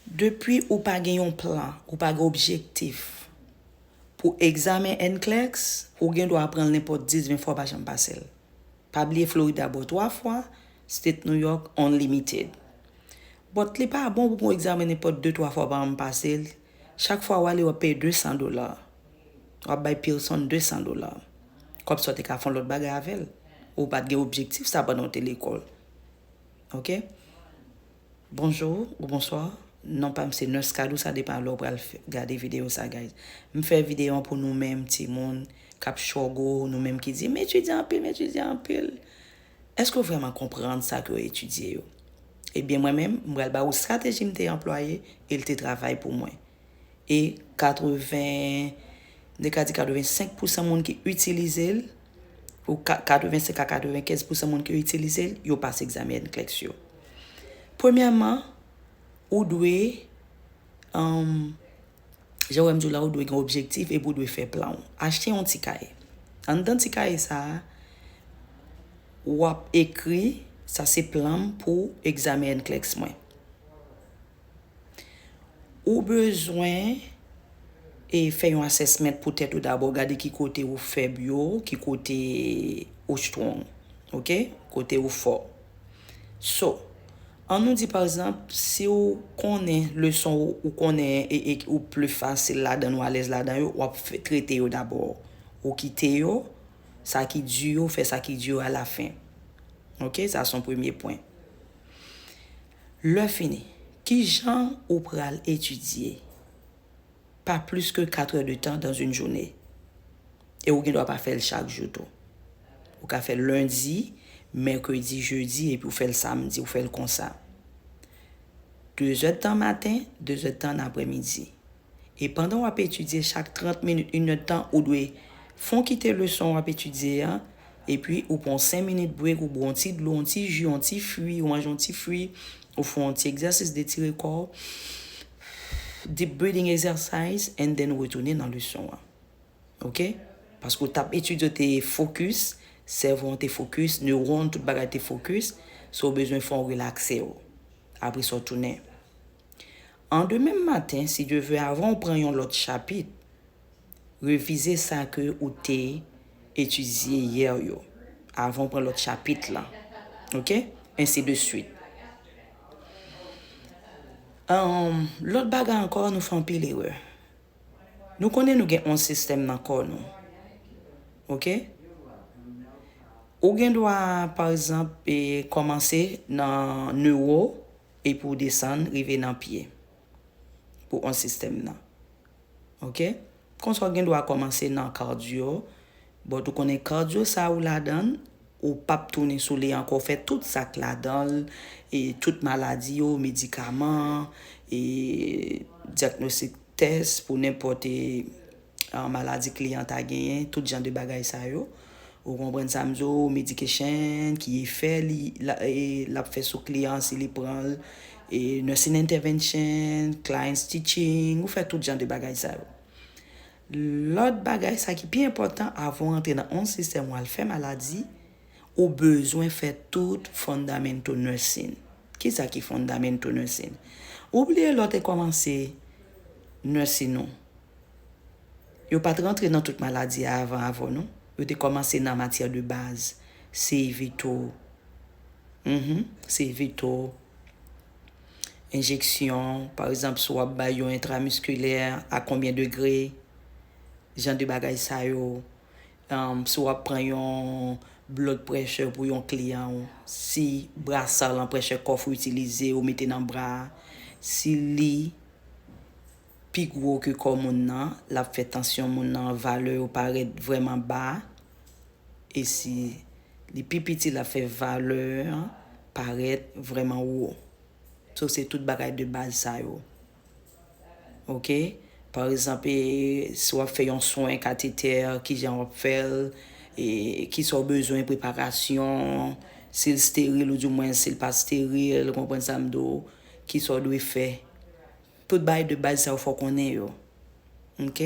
Depi ou pa gen yon plan, ou pa gen objektif pou egzamen NCLEX, ou gen dwa pran l nenpòt 10, 20 fwa ou pa janm pase l. Pa bliye Florida bo 3 fwa, State New York unlimited. But li pa bon pou pran yon egzamen nenpòt 2, 3 fwa ou pa janm pase l, chak fwa w ale w ap peye 200 dola. W ap bay Pearson 200 dola. Kòb sa w te ka fè yon lòt bagay avè l. Ou pa t gen objektif sa pandan w te lekòl. Ok. Bonjour ou bonsoir non pam se nurskadou sa depan lè ou pral gade video sa guys m fè video an pou nou menm timoun kap chogo nou menm ki di m etidye anpil m etidye anpil eske ou vreman konprann sa ke ou etidye yo ebyen mwen menm m pral ba ou strateji m te anplwaye e l te travay pou mwen e 80 ne ka di 85 pousan moun ki itilize l ou 85 a 95 pousan moun ki itilize l yo pase egzamen NCLEX yo. Premyèman, ou dwe, jan wè m di w la, ou dwe gen objektif epi ou dwe fè plan w. Achte yon ti kaye. Anndan ti kaye sa a, w ap ekri, sa se plan m pou egzamen NCLEX mwen. Ou bezwen e fè yon assessment pou tèt ou dabò, gade ki kote ou fèb yo, ki kote ou strong. Ok? Kote ou fò. So, an nou di pa egzanp, si ou konnen leson ou konnen e ou pli fasil ladan ou alèz ladan yo, wap trete yo dabò. Ou kite yo, sa ki di yo, fè sa ki di yo alafen. Ok? Sa son premye pwen. Lè fini, ki jan ou pral etidye pa plis ke 4 è de tan dans yn joune? E ou gen dwa pa fè l chak jou tou. Ou ka fè l lendi, mèkredi, jedi epi ou fè l samdi, ou fè l konsa. 2 zè tan maten, 2 zè tan nan aprè midi. E pandan w ap etidye chak 30 minit inèdtan ou dwe fè w kite leson w ap etidye a epi ou pran w 5 minit brek ou bwè yon ti dlo yon ti ji yon ti fwi ou manje yon ti fwi ou fè yon ti egzèsis detire kò w deep breathing exercise and then ou retounen nan leson an ok paske w t ap etidye w te fokis sèvo an te fokis newron tout bagay te fokis so ou bezwen fè w relakse w apre sa w tounen An demen maten si Dye ve avan ou pran yon lòt chapit, revize sa ke ou te etidye yè yo avan ou pran lòt chapit lan. Ok? Ensi de swit. An, lòt bagay ankò nou fè anpil erè. Nou konnen nou gen 11 sistèm nan kò nou. Ok? Ou gen dwa pa egzanp e kòmanse nan newo, Epi ou desann rive nan pye. Pou 11 sistèm nan. Ok? Konsa ou gen dwa kòmanse nan cardio. But ou konnen cardio sa ou ladann, ou pap tounen sou li ankò. Ou fè tout sa k ladan l. E tout maladi yo, medikaman, e diagnostic test pou nenpòt e. maladi kliyan ta genyen, tout jan de bagay sa yo. Ou konprann sa m di w, medication, ki efè li l ap fè sou kliyan an si li pran l, nursing intervention, client stitching, ou fè tout jan de bagay sa yo. Lòt bagay sa ki pi enpòtan avan w antre nan yon sistèm w al fè maladi, ou bezwen fè tout fundamental nursing. Ki sa ki fundamental nursing? Ou bliye lè w te kòmanse nursing ou, Yo pat rantre nan tout maladi a avan avw non. Yo te komanse nan matyè de baz. Se veto. Mph se veto. Enjeksyon. Pa ekzanp si wap bay yon entramiskilè a konbyen degre. Jan de bagay sa yo. Mph si wap pran yon blood pressure pou yon kliyan ou. Si brasa lan pressure cuff ou itilize ou mete nan bra a. Si li. pi gwo ke kò moun nan, l ap fè tansyon moun nan, valè yo parèt vrèman ba, e si li pi piti l ap fè valè an parèt vrèman wo. So se tout bagay de baz sa yo. Ok, pa egzanp e si w ap fè yon swen katetè kijan w ap fè l, e kisa w bezwen preparasyon, si l steril ou di mwen si l pa steril, konprann sa m di w, kisa w dwe fè. Tout bagay de baz sa yo fò w konnen yo. Ok.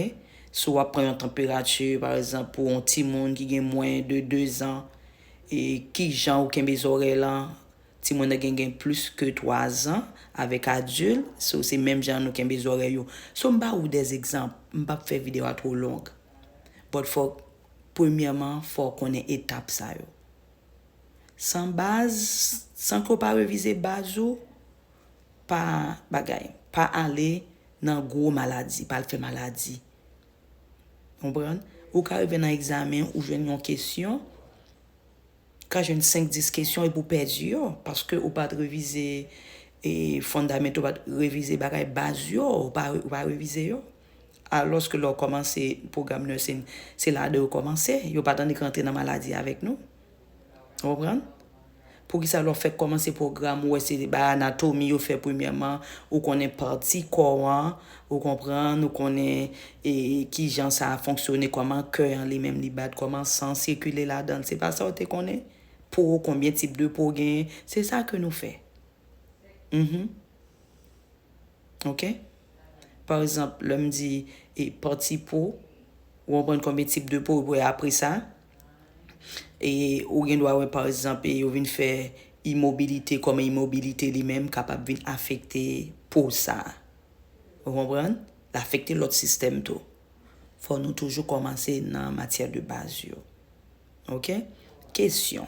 Si w ap pran yon tanperati, pa egzanp, pou yon timoun ki gen mwen de 2 zan, e ki jan ou kenbe zòrèy lan, timoun nan gen gen plis ke 3 zan, avèk adil, so se menm jan nou kenbe zòrèy yo. So m ba ou de egzanp, m pa p fè videyo a two long. But fòk, premyèman, fò w konnen etap sa yo. San baz, san ke w pa revize baz ou, Pa bagay. Pa ale nan gwo maladi. Pa al fè maladi. Konprann? Ou ka rive nan egzamen, ou jwenn yon kesyon, ou ka jwenn 5, 10 kesyon epi ou pèdi yo. Paske ou pa t revize fondament, ou pa t revize bagay baz yo. Ou pa revize yo. Alòske lè ou kòmanse pwogram nursing, se ladan yo kòmanse. Yo pa tannik rantre nan maladi avèk nou. Ou konprann? Poukisa lè w fèk kòmanse pwogram ou wè se bay anatomi yo fè premyèman, ou konnen pati kò an, ou konprann, ou konnen kijan sa fonksyone, kòman kè an li menm li bat, kòman san sikile ladan l, se pa sa ou te konnen? Po, konbyen tip de po genyen, se sa ke nou fè. Mh. Ok. Pa egzanp, lè m di pati po, ou konprann konbyen tip de po, apresa. E ou gen dwa wè pa ekzanp e yo vin fè imobilite kòm imobilite li menm kapab vin afekte po sa. Ou konprann? L afekte lòt sistèm tou. Fò nou toujou kòmanse nan matyè de baz yo. Ok? Kesyon.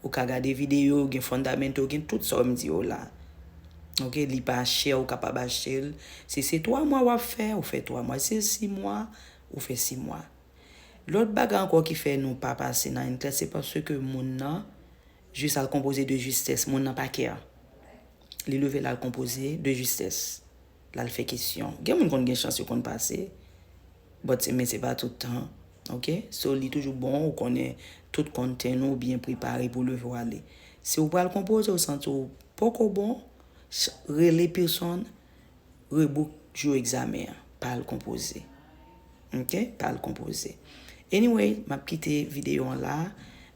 Ou ka gade video yo gen fundamento gen tout sa wèm di yo la ok li pa chè ou kapab achtel si se 3 mwa wap fè ou fè 3 mwa si se 6 mwa ou fè 6 mwa lòt bagay ankò ki fè nou pa pase nan yn tès se paske moun nan jis al konpoze de justès moun nan pa kè li leve lal konpoze de justès. lal fè kesyon gen moun konn gen chans yo konn pase but se men se pa tout tan ok so li toujou bon ou konnen tout konten ou byen prepare pou leve ou ale si ou pral konpoze ou santi ou poko bon rele pearson rebook jou egzamen an pa al konpoze. Ok pal konpoze. Anyway map kite video an la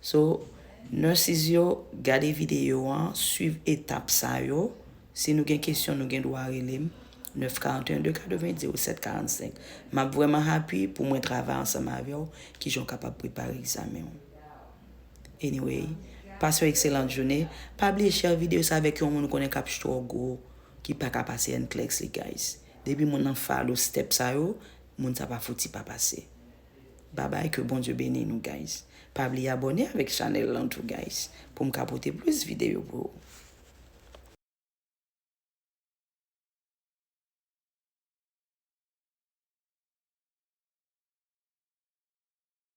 so nurses yo gade video an swiv etap sa yo si nou gen kesyon nou gen dwa relem 941 280 0745 map vreman happy pou mwen travay ansanm avew kijan ou kapab prepare egzamen ou. Anyway pase yon excellent journée pa bliye share video sa avek yon moun ou konnen kap struggle ki paka pase NCLEX li guys. Depi moun nan follow step sa yo moun sa pa fouti pa pase babay ke Bondye beni nou guys pa bliye abòne avèk chanèl lan tou guys poum ka pote plis videyo pou ou.